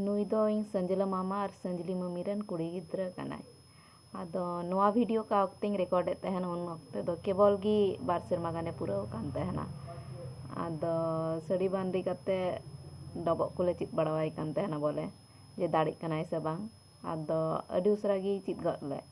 ᱱᱩᱭ ᱫᱚ ᱤᱧ ᱥᱟᱹᱡᱽᱞᱟᱹ ᱢᱟᱢᱟ ᱟᱨ ᱥᱟᱹᱡᱽᱞᱤ ᱢᱟᱹᱢᱤ ᱨᱮᱱ ᱠᱩᱲᱤ ᱜᱤᱫᱽᱨᱟᱹ ᱠᱟᱱᱟᱭ ᱟᱫᱚ ᱱᱚᱣᱟ ᱵᱷᱤᱰᱤᱭᱳ ᱚᱠᱟ ᱚᱠᱛᱮᱧ ᱨᱮᱠᱚᱨᱰᱮᱫ ᱛᱟᱦᱮᱱ ᱩᱱ ᱚᱠᱛᱮ ᱫᱚ ᱠᱮᱵᱚᱞ ᱜᱮ ᱵᱟᱨ ᱥᱮᱨᱢᱟ ᱜᱟᱱᱮ ᱯᱩᱨᱟᱹᱣ ᱟᱠᱟᱱ ᱛᱟᱦᱮᱱᱟ ᱟᱫᱚ ᱥᱟᱹᱲᱤ ᱵᱟᱸᱫᱮ ᱠᱟᱛᱮ ᱰᱚᱵᱚᱜ ᱠᱚᱞᱮ ᱪᱮᱫ ᱵᱟᱲᱟᱣᱟᱭ ᱠᱟᱱ ᱛᱟᱦᱮᱱᱟ ᱵᱚᱞᱮ ᱡᱮ ᱫᱟᱲᱮᱜ ᱠᱟᱱᱟᱭ ᱥᱮ ᱵᱟᱝ ᱟᱫᱚ ᱟᱹᱰᱤ ᱩᱥᱟᱹᱨᱟ ᱜᱮᱭ ᱪᱮᱫ ᱜᱚᱫ ᱞᱮᱫ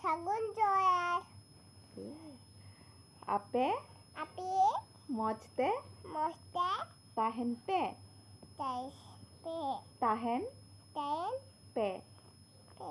ᱥᱟᱹᱜᱩᱱ ᱡᱚᱦᱟᱨ ᱟᱯᱮ ᱟᱯᱮ ᱢᱚᱡᱽ ᱛᱮ ᱢᱚᱡᱽ ᱛᱮ ᱛᱟᱦᱮᱱ ᱯᱮ ᱛᱟᱦᱮᱱ ᱯᱮ ᱛᱟᱦᱮᱱ ᱛᱟᱦᱮᱱ ᱯᱮ ᱯᱮ